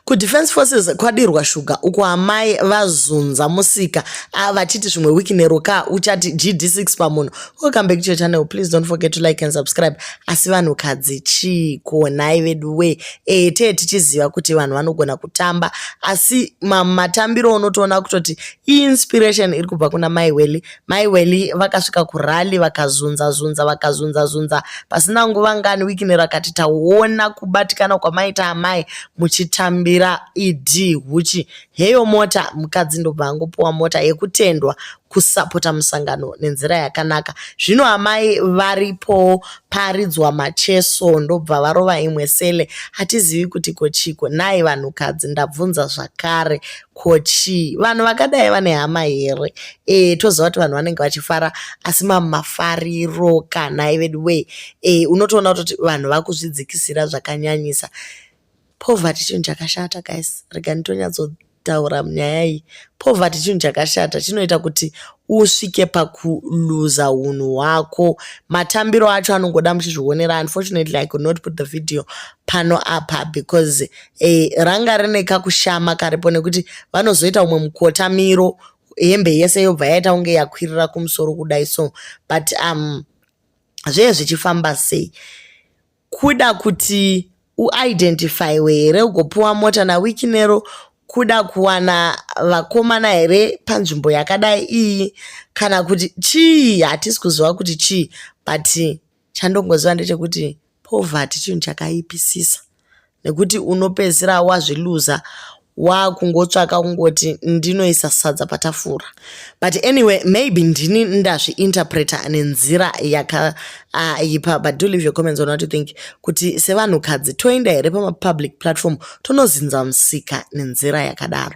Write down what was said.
kudefense forces kwadirwa shuga uko amai vazunza musika ah, vachiti zvimwe wiki nero ka uchati gd6 pamunhu welcome back to your channel please don't forget to like and subscribe asi vanhukadzi chii kuonai vedu wee ee eh, tee tichiziva kuti vanhu vanogona kutamba asi matambiro unotoona kutoti inspiration iri kubva kuna mai weli Mai Welly vakasvika kurally vakazunza zunza vakazunza zunza pasina nguva ngani Wikini rakati taona kubatikana kwamaita amai muchitambira ED huchi heyo mota mukadzi ndobva angopuwa mota yekutendwa kusapota musangano nenzira yakanaka zvino amai varipowo paridzwa macheso ndobva varova imwe sele hatizivi kuti kochiko nhai vanhukadzi ndabvunza zvakare ko chii vanhu vakadai vane hama here e, toziva kuti vanhu vanenge vachifara asi mamwe mafariro kanhai vedu wee e, unotoona kutoti vanhu vakuzvidzikisira zvakanyanyisa poverty chinhu chakashata guys rega nditonyatso taura munyaya iyi poverty chinhu chakashata chinoita kuti usvike pakuluza unhu hwako matambiro acho anongoda muchizvionera unfortunately i could not put the video pano apa because e, ranga rine kakushama karipo nekuti vanozoita umwe mukotamiro hembe yese yobva yaita kunge yakwirira kumusoro kudai so but um zvee zvichifamba sei kuda kuti uidentifyiwe here ugopiwa mota nawiki nero kuda kuwana vakomana here panzvimbo yakadai iyi kana kuti chii hatisi kuziva kuti chii but Chandongoziva ndechekuti poverty chinhu chakaipisisa nekuti unopedzisira wazviluza wakungotsvaka kungoti ndinoisa sadza patafura but anyway maybe ndini ndazviinterpreter nenzira yakaipa uh, but do leave your comments on what you think kuti sevanhukadzi toenda here pamapublic platform tonozinza musika nenzira yakadaro